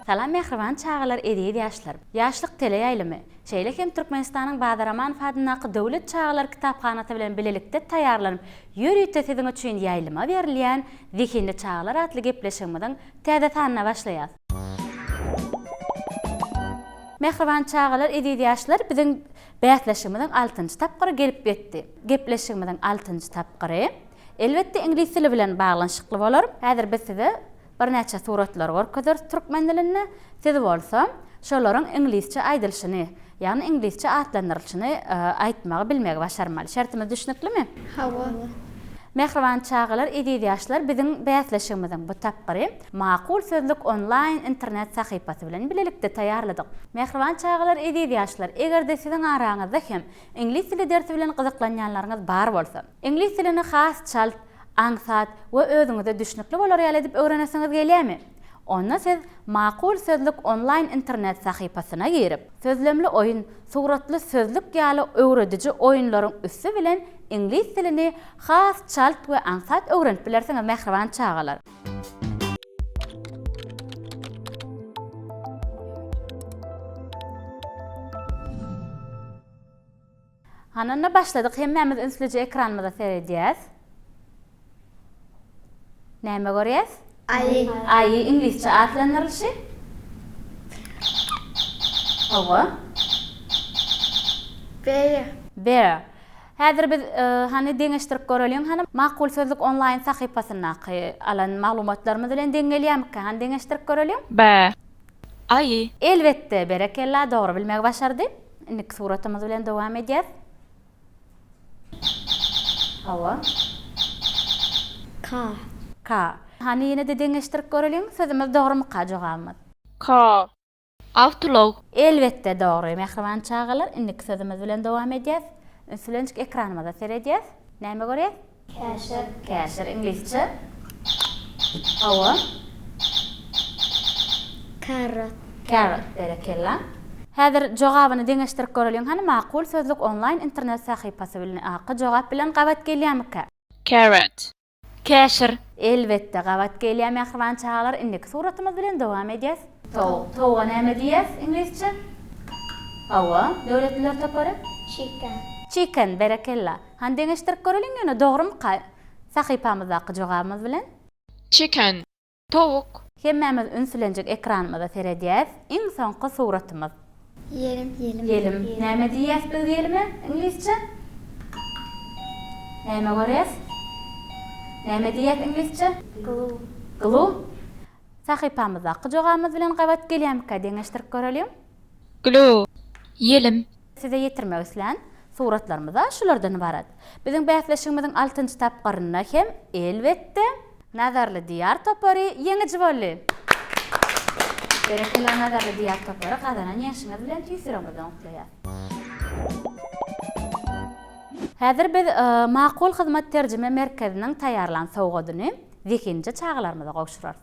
Salam mähriban çagalar eziz ýaşlar! Ýaşlyk teleýaýlymy, şeýle hem Türkmenistanyň Bazar Amanow adyndaky Döwlet çagalar kitaphanasy bilen bilelikde taýýarlanyp ýörite siziň üçin ýaýlyma berilýän Zehinli çagalar atly gepleşigimiziň täze sanyna başlaýas. Mähriban çagalar eziz ýaşlar biziň bäsleşigimiziň altynjy tapgyry gelip ýetdi. Gepleşigimiziň altynjy tapgyry. Elbetde iňlis dili bilen baglanyşykly bolar. Häzir biz size birnäçe suratlary görkezeris türkmen dilinde, siz bolsa şolaryň iňlisçe aýdylyşyny, ýagny iňlisçe atlandyrylyşyny aýtmagy bilmegi başarmaly. Şertimiz düşnüklimi? Hawa. Mähriban çagalar, eziz ýaşlar biziň bäsleşigimiziň bu tapgyry Makul sözlük onlaýn internet sahypasy bilen bilelikde taýýarladyk. Mähriban çagalar, eziz ýaşlar, eger-de siziň araňyzda hem iňlis dili dersi bilen gyzyklanýanlaryňyz bar bolsa, Iňlis dilini has çalt, aňsat we özüňize düşnükli bolar ýaly edip öwrenesiňiz gelýärmi? Onda siz Makul sözlük onlaýn internet sahypasyna girip, sözlemli oýun, suratly sözlük ýaly öwrediji oýunlaryň üsti bilen iňlis dilini has çalt we aňsat öwrenip bilersiňiz mähriban çagalar. Hananda başladyk hemmämiz ünslije ekranymyza seredýäs. Näme görýäs? Aýy. Aýy iňlisçe atlandyrylyşy? Hawa. Bear. Bear. Häzir biz hany deňeşdirip göreliň hany Makul sözlük onlaýn sahypasyndaky alan maglumatlarymyz bilen deň gelýärmikkä hany deňeşdirip göreliň. Bear. Aýy. Elbetde berekella dogry bilmegi başardy. Indiki suratymyz bilen dowam edýäs. Hawa. Ka. Ka. Hany ýene-de deňeşdirip göreliň sözümiz dogrymyka jogabymyz. Ka. Awtolog. Elbetde dogry mähriban çagalar indiki sözümiz bilen dowam edýäs. Ünslençik ekranymyza seredýäs. Näme görýäs? Käşir, Käşir, iňlisçe, Hawa. Carrot. Carrot, berekella. Häzir jogabyny deňeşdirip göreliň hany Makul sözlük onlaýn internet sahypasy bilni aky jogap bilen gabat gelýämikä? Carrot. Käşir. Elbetde gabat gelýär mähriban çagalar indiki suratymyz bilen dowam edýäs. Towuk, Towuga näme diýýäs iňlisçe? Hawa, döwletliler topary. Chicken. Chicken, berekella. Hany deňeşdirip göreliň ýöne dogrymyka sahypamyzdaky jogabymyz bilen. Çeken. Towuk. Hemmämiz ünslenjik ekranymyza seredýäs. Iň soňky suratymyz. Ýelim. Ýelim. Näme diýýäs biz ýelime iňlisçe? Näme görýäs? Näme diýýäs iňlisçe? Glue. Glue. Sahypamyzdaky jogabymyz bilen gabat gelýärmika deňeşdirip göreliň. Glo. Ýelim. Size ýetirmek islän suratlarymyz-a şulardan ybarat. Biziň bäsleşigimiziň altynjy tapgyrynda hem, elbetde. Nazarly Diýar topary ýeňiji boldy! Berekella Nazarly Diýar topary gazanan ýeňşiňiz bilen tüýs ýüregimizden gutlaýas! Häzir biz Makul hyzmat terjime merkeziniň taýýarlan sowgadyny zehinje çagalarymyza gowşurarys.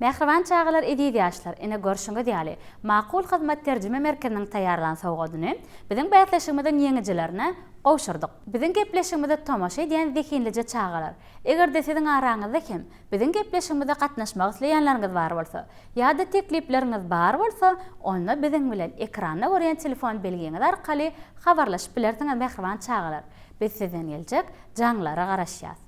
Mähriban çagalar eziz ýaşlar, ine görşüňiz ýaly, Makul hyzmat terjime merkeziniň taýýarlan sowgadyny biziň bäsleşigimiziň ýeňijilerine gowşurdyk. Biziň gepleşigimize tomaşa edýän zehinlije çagalar, eger-de siziň araňyzda hem biziň gepleşigimize gatnaşmak isleýänleriňiz bar bolsa, ýa-da teklipleriňiz bar bolsa, onda biziň bilen ekranda görýän telefon belgiňiz arkaly habarlaşyp bilersiňiz mähriban çagalar, biz sizden geljek jaňlara garaşýas.